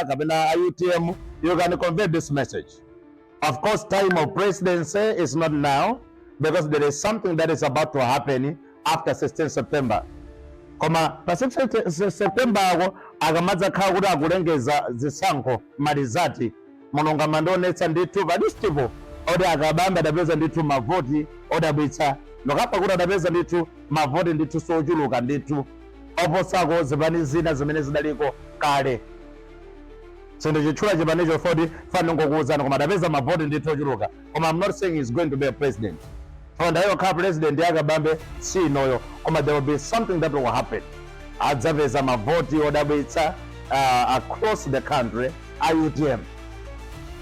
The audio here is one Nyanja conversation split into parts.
kapena a utm you can convey this message of course time of presidency is not now because there is something that is about to happen after 16 september koma pa 16 september ako akamadzakhala kuti akulengeza zisankho ma results Mulungu amandionetsa ndithu pa list po oti a Kabambe adapeza ndithu mavoti odabwitsa nokha pa kuti adapeza ndithu mavoti ndithu ochuluka ndithu oposako zipani zina zimene zidaliko kale. Sindichitchula chipanicho chifukwa ndifuna ndingokuwuzani koma adapeza mavoti ndithu ochuluka koma I'm not saying he's going to be a president. Chifukwa nthawi yokhala president ya Kabambe si inoyi koma there will be something that will happen. Adzapeza mavoti odabwitsa uh, across the country a UTM.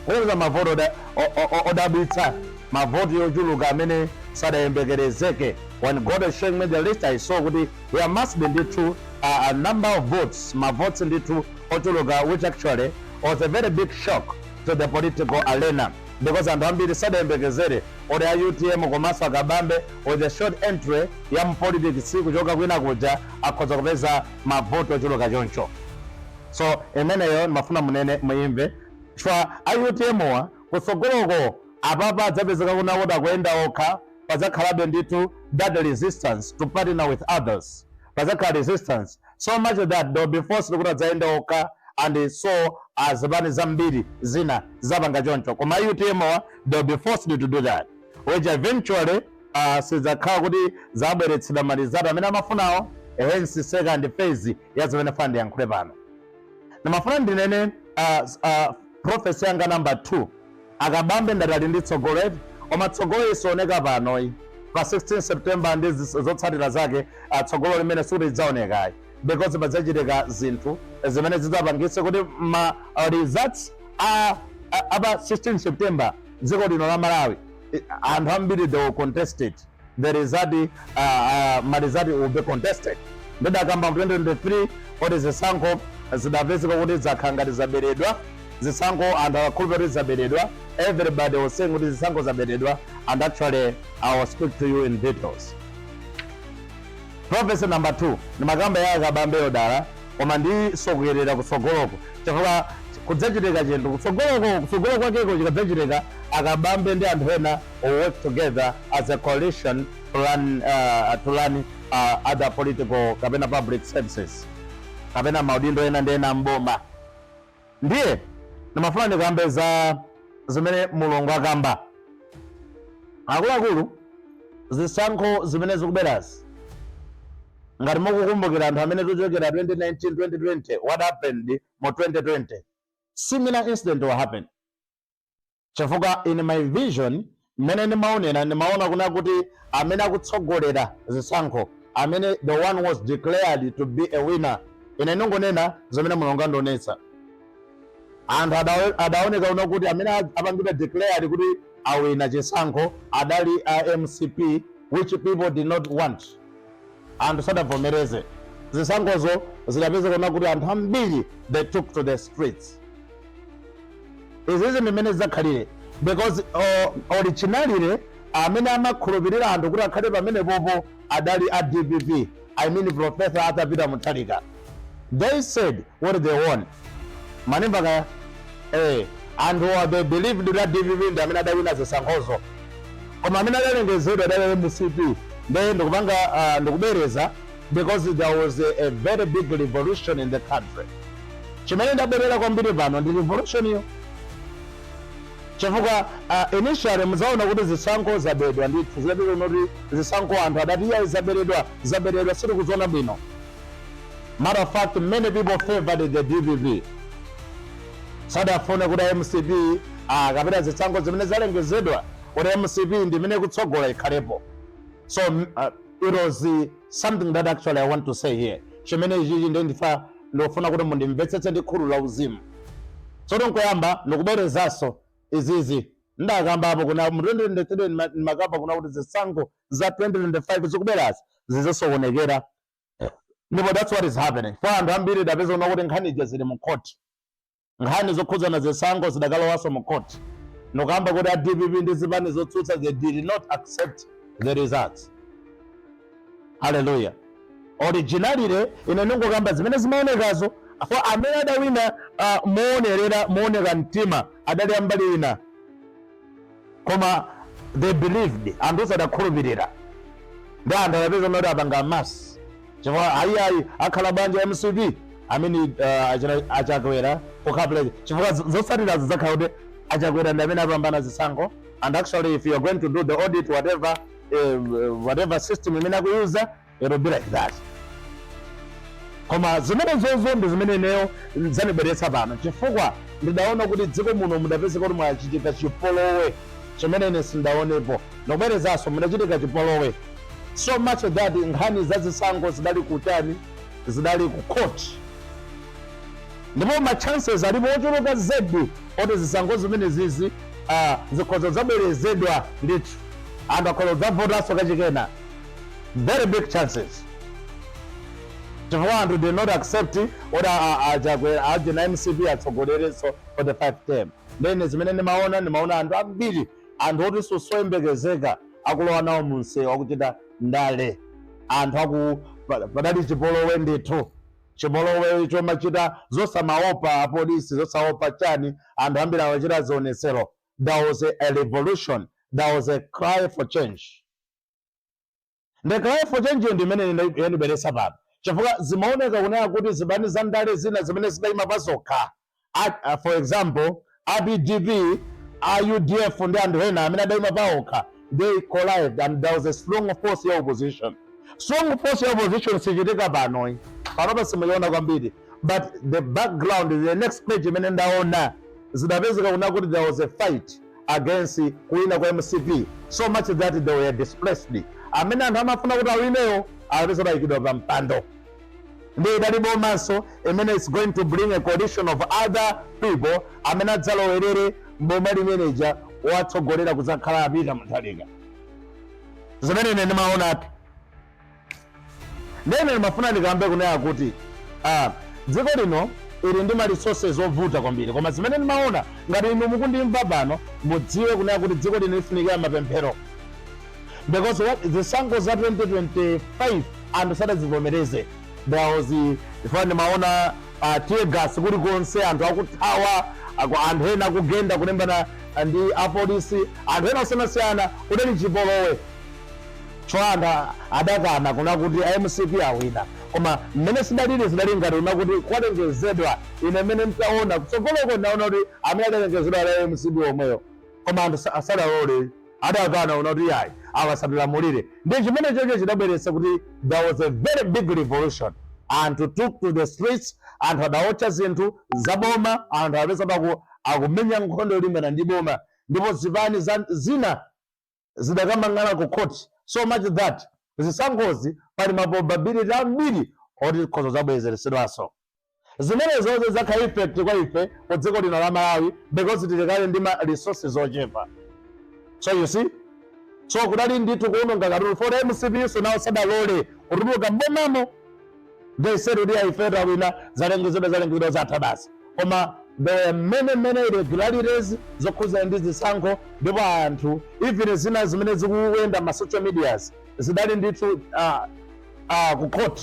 Kupeza mavoti oda- o- o- o- odabwitsa mavoti ochuluka amene sadayembekezereke When God was showing me the list, I saw kuti there must be ndithu uh, a number of votes, ma votes ndithu ochuluka which actually was a very big shock to the political arena because anthu ambiri sadayembekezere kuti a utm komanso akabambe with a short entry ya mpolitics kuchoka kwina kuja akhoza kupeza mavoti ochuluka choncho so imeneyo ndimafuna ndinene muimve chifukwa a utmwa kutsogoloko apapa adzapezeka kuna kuti akuyenda okha padzakhalabe ndithu that resistance to partner with others padzakhala resistance so much that they'll be forced kuti adzayenda okha and so azipani zambiri zidzapanga choncho koma a utmwa they'll be forced to do that which eventually uh, sidzakhala kuti zabweretsa ma results amene amafunawo hence second phase ya zimene ndifuna ndiyankhule pano Ndimafuna ndinene uh, uh, prophecy yanga number 2 a Kabambe ndati ali ndi tsogolo eti koma tsogololi sioneka panoyi pa 16 september ndi zis- zotsatira zake uh, tsogolo limene sikuti lidzaonekayi because padzachitika zinthu zimene zidzapangitse kuti ma uh, results a a- apa 16 september dziko lino la malawi eh, anthu ambiri they will contest it the result uh, uh, ma result will be contested ndidakamba mu 2023 kuti zisankho zidzapezeka kuti zakhala ngati zaberedwa zisankho anthu akukhulupirira kuti zaberedwa everybody was saying kuti zisankho zaberedwa and actually i will speak to you in details prophecy number 2 ndimakamba ya a Kabambeyo dala koma ndisunthire kutsogoloko chifukwa kudzachitika chinthu kutsogoloko kutsogolo kwakeko chikadzachitika a Kabambe ndi anthu ena will work together as a coalition to run, uh, to run uh, other political kapena public services kapena maudindo ena ndi ena mboma ndiye ndimafuna ndikambe za zimene mulungu akamba akuluakulu zisankho zimene zikubwerazi ngati mukukumbukira anthu amene tikuchokera 2019 2020 what happened mu 2020 similar incident will happen Chifukwa in my vision mmene ndimaonera ndimaona kuna kuti amene akutsogolera zisankho amene the one was declared to be a winner ine ndingonena zimene mulungu andionetsa anthu adawe- adaoneka kuna kuti amene a- apangidwa declared kuti awina chisankho adali a mcp which people did not want anthu sadavomereze zisankhozo zidapezeka kuna kuti anthu ambiri they took to the streets izizi ndi mmene zidzakhalire because uh, originally amene amakhulupirira anthu kuti akhale pamenepopo adali a dpp i mean professor arthur peter mutharika they said what they want manemba kaya eh anthuwa they believed that dpp ndi amene adawina zisankhozo koma amene adalengezedwa adali mcp nde ndikupanga ah, ndikubwereza because there was a, a very big revolution in the country chimene ndabwerera kwambiri pano ndi revolution iyo chifukwa uh, initially muzaona kuti zisankho zabedwa ndithu zidati kuti zisankho anthu adati iyayi zaberedwa zaberedwa sitikuziona bwino Matter of fact many people favoured the dpp sadafune kuti mcp ah, kapena zisankho zimene zalengezedwa kuti mcp ndi imene ikutsogola ikhalepo so m- ah, it was uh, something that actually i want to say here chimene ichichi ndi ndifa ndikufuna kuti mundimvetsetse ndi khulu la uzimu sikuti nkoyamba ndikubwerezanso izizi ndakambapo kuna mu 2023 ndima- ndimakamba kuna kuti zisankho za 2025 zikubwerazi zidzasokonekera ndipo that's what is happening kwa anthu ambiri tidapeza kuna kuti nkhani ija zili mu court nkhani zokhudzana zisankho zidakalowanso mu court nkukamba kuti a dpp ndi zipani zotsutsa they did not accept the results haleluya originally ine ndingokamba zimene zimaonekazo apo amene adawina uh, moonerera mooneka mtima adali ambali ina koma they believed anthu onse adakhulupirira ndi anthu adapeza kuti apanga amasi chifukwa ayiayi akhala bwanji mcp amene uh, achina- achakwera pokapuleza chifukwa z- zotsatirazo zakhala kuti achakwera ndi amene apambana zisankho and actually if you are going to do the audit whatever eh, whatever system imene akuyuza it'll be like that koma zimenezozo ndi zimene ineyo zanibweretsa pano chifukwa ndidaona kuti dziko muno mudapezeka kuti mwachitika chipolowe chimene ine sindaonepo ndikubwerezanso mudachitika chipolowe so much that nkhani za zisankho zidali kutani zidali ku court ndipo ma chances alipo ochuluka zedi oti zisankho zimenezizi ah, zikhoza kudzabwerezedwa ndithu anthu akhoza kudzavotanso kachikena very big chances chifukwa anthu did not accept oti achakwera ndi a mcp atsogolerenso for 5 term nde zimene ndimaona ndimaona anthu ambiri anthu oti sosoyembekezeka akulowa nawo munsewu akuchita ndale anthu aku pa- padali chipolowe ndithu chipolowe chomachita zosamaopa apolisi zosaopa chani anthu ambiri amachita zionetsero there was a, a revolution there was a cry for change The cry for change yo ndi imene ine ndai- yandibweretsa pano chifukwa zimaoneka kunena kuti zipani za ndale zina zimene zidaima pazokha a- a- for example a DPP a UDF ndi anthu ena amene adaima paokha they collided and there was a strong force ya opposition strong force ya opposition sichitika panoyi panopa simuyiona kwambiri but the background the next page imene ndaona zidapezeka kuna kuti there was a fight against kuwina kwa mcp so much that they were displaced amene anthu amafuna kuti awineyo apezeka atayikidwa pa mpando ndiye idali boma so imene is going to bring a coalition of other people amene adzalowerere m'boma limeneja watsogolera kudzakhala a Peter Mutharika zimene ine ndimaona ati Nde ine ndimafuna ndikambe kunena kuti ah, dziko lino ili ndi ma resources ovuta kwambiri, koma zimene ndimaona ngati inu mukundimva pano mudziwe kunena kuti dziko lino lifunikira mapemphero because what zisankho za 2025 anthu sadazivomereze there was chifukwa ndimaona uh, tear gas kulikonse anthu akuthawa aku- anthu ena akugenda kulimbana ndi apolisi anthu ena osiyanasiyana kudali chipolowe Chifukwa anthu adakana kuna kuti a mcp awina koma mmene zidalili zidali ngati kuna kuti kwalengezedwa ine mmene nditaona kutsogoloko ndinaona kuti amene adalengezedwa adali a mcp omwewo koma anthu sadalole adakana kuna kuti iyayi awa satilamulire ndiye chimenechocho chidabweretsa kuti there was a very big revolution anthu took to the streets anthu adaotcha zinthu za boma anthu apezeka akumenya nkhondo yolimbana ndi boma ndipo zipani za zina zidakamang'alidwa ku court so much that zisankhozi pali ma probability ambiri oti zikhoza kudzabwerezedwanso. Zimenezo zidzakhala effect kwa ife ku dziko lino la Malawi because tili kale ndi ma resources ochepa. So you see? So kudali ndithu kuwononga katundu for mcp so nawo sadalole kutuluka m'bomamo they said kuti ayi ife tawina zalengezedwa zalengezedwa zatha basi koma there were many many irregularities zokhudzana ndi zisankho ndipo anthu even zina zimene zikuyenda ma social medias zidali ndithu ku court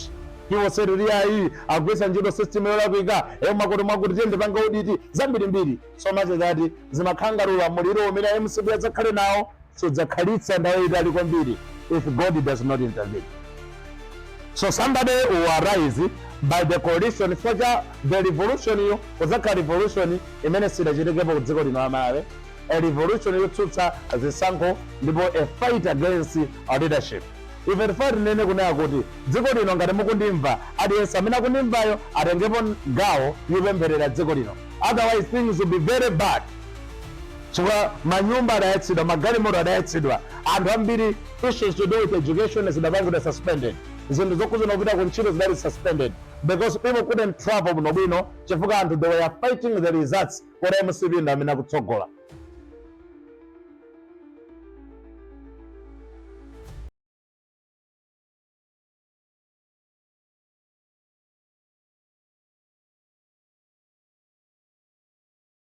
people said kuti ayi agwiritsa ntchito system yolakwika eyo makoto mwakuti tiyeni tipange audit zambirimbiri so much that zimakhala ngati ulamuliro umene mcp adzakhale nawo sudzakhalitsa nthawi yayitali kwambiri if God does not intervene. So somebody will arise by the coalition chifukwa cha the revolution yo kudzakhala revolution imene sidachitekepo ku dziko lino la Malawi a revolution yotsutsa zisankho ndipo a fight against our leadership ife tifuna tinene kunena kuti dziko lino ngati mukundimva aliyense amene akundimvayo atengepo gawo yopempherera dziko lino otherwise things will be very bad chifukwa manyumba adayatsidwa magalimoto adayatsidwa anthu ambiri issues to do with education zidapangidwa suspended zinthu zokhudzana ndi kupita ku ntchito zidali suspended because people couldn't travel bwino bwino chifukwa anthu they were fighting the results kuti mcp ndi amene akutsogola